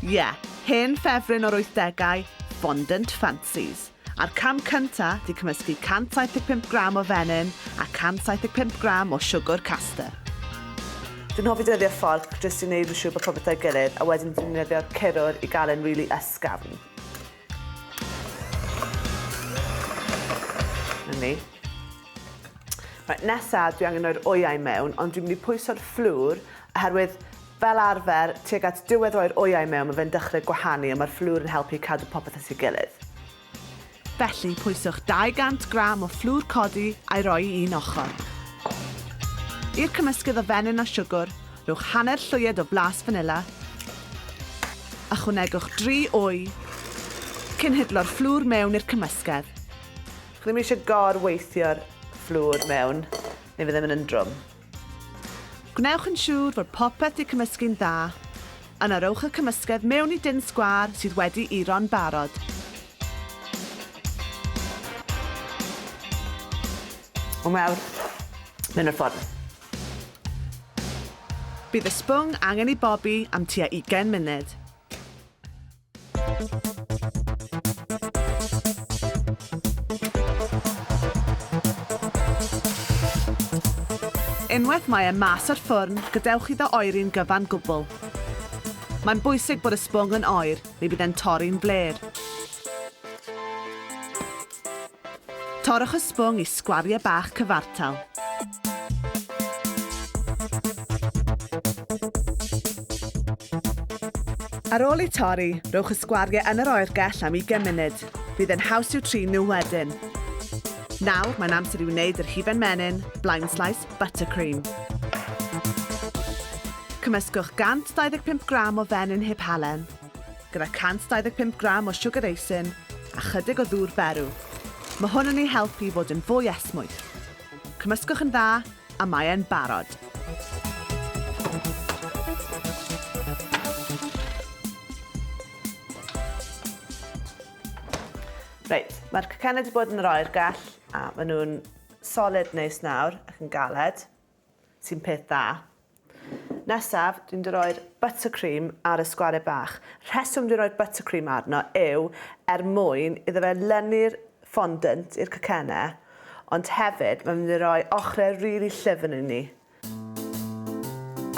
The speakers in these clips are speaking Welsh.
Ie, hen ffefryn o'r wythdegau, Fondant Fancies. A'r cam cynta 'di cymysgu 175 gram o fenyn a 175 gram o siwgwr caster. Fi'n hoffi defnyddio fforc jyst i wneud yn siŵr bod popeth 'da'i gilydd a wedyn fi'n defnyddio curwr i gael e'n rili ysgafn. 'Na ni. Reit, nesa dwi angen rhoi'r wyau mewn ond dwi'n mynd i pwyso'r fflwr oherwydd Fel arfer, tuag at diwedd roi'r wyau mewn mae fe'n dechrau gwahanu a mae'r fflwr yn helpu i cadw popeth at ei gilydd. Felly, pwyswch 200 gram o fflwr codi a'i roi i un ochr. I'r cymysgedd o fenyn a siwgr, rhowch hanner llwyed o flas fanila. Ychwanegwch dri wy, cyn hidlo'r fflwr mewn i'r cymysgedd. Chi ddim eisiau gor-weithio'r fflwr mewn neu fe ddim yn un drwm. Gwnewch yn siŵr fod popeth di cymysgu'n dda. Yna rowch y cymysgedd mewn i dun sgwâr sydd wedi uro'n barod. O mewn mewn i'r ffwrn. Bydd y sbwng angen i bobi am tua ugain munud. Unwaith mae e mas o'r ffwrn, gadewch iddo oeri'n gyfan gwbl. Mae'n bwysig bod y sbwng yn oer, neu bydd e'n torri'n flêr. Torrwch y sbwng i sgwariau bach cyfartal. Ar ôl eu torri, rhowch y sgwariau yn yr oergell am 20 munud. Bydd yn haws i'w trin nhw wedyn. Nawr, mae'n amser i wneud yr hufen menyn, blind slice buttercream. Cymysgwch 125 gram o fenyn heb halen, gyda 125 gram o siwgr eisin a chydig o ddŵr berw. Mae hwn yn ei helpu i fod yn fwy esmwyth. Cymysgwch yn dda a mae e'n barod. Reit, mae'r cacennau wedi bod yn yr oergell a maen nhw'n solid neis nawr ac yn galed. sy'n peth da. Nesaf, dwi'n dy roi'r buttercream ar y sgware bach. Rheswm dwi'n roi'r buttercream arno yw er mwyn iddo fe lynu'r fondant i'r cacenne, ond hefyd mae'n mynd i roi ochrau rili really llyfn i ni.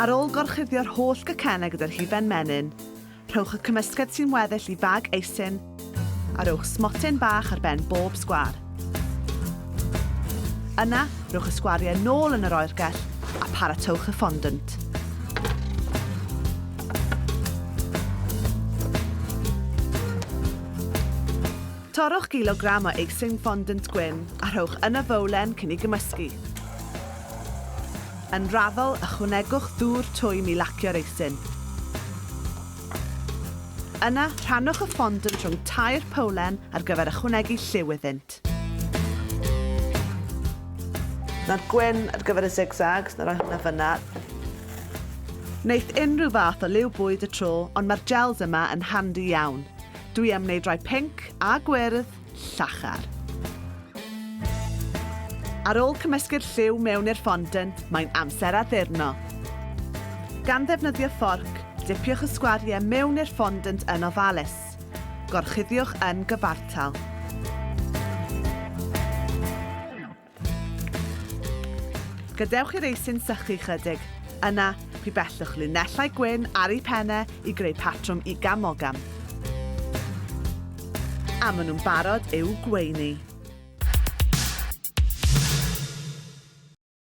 Ar ôl gorchuddio'r holl gacenne gyda'r hufen menyn, Rhowch y cymysgedd sy'n weddill i fag eisin a rhowch smotyn bach ar ben bob sgwâr. Yna, rhowch y sgwariau nôl yn yr oergell a paratowch y fondant. Torrwch gilogram o eisyn fondant gwyn a rhowch yn y fowlen cyn ei gymysgu. Yn raddol, ychwanegwch ddŵr twym i lacio'r eisyn. Yna, rhannwch y fondant rhwng tair powlen ar gyfer ychwanegu lliw iddynt. Nawr gwyn ar gyfer y zigzags, na roi hwnna fyna. Wneith unrhyw fath o liw bwyd y tro, ond mae'r gels yma yn handi iawn. Dwi am wneud rhai pinc a gwyrdd llachar. Ar ôl cymysgu'r lliw mewn i'r fondant, mae'n amser addurno. Gan ddefnyddio fforc, dipiwch y sgwariau mewn i'r fondant yn ofalus. Gorchuddiwch yn gyfartal. Gadewch i'r eisin sychu chydig. Yna, rhy bellwch linellau gwyn ar ei pennau i greu patrwm i gamogam. A maen nhw'n barod i'w gweini.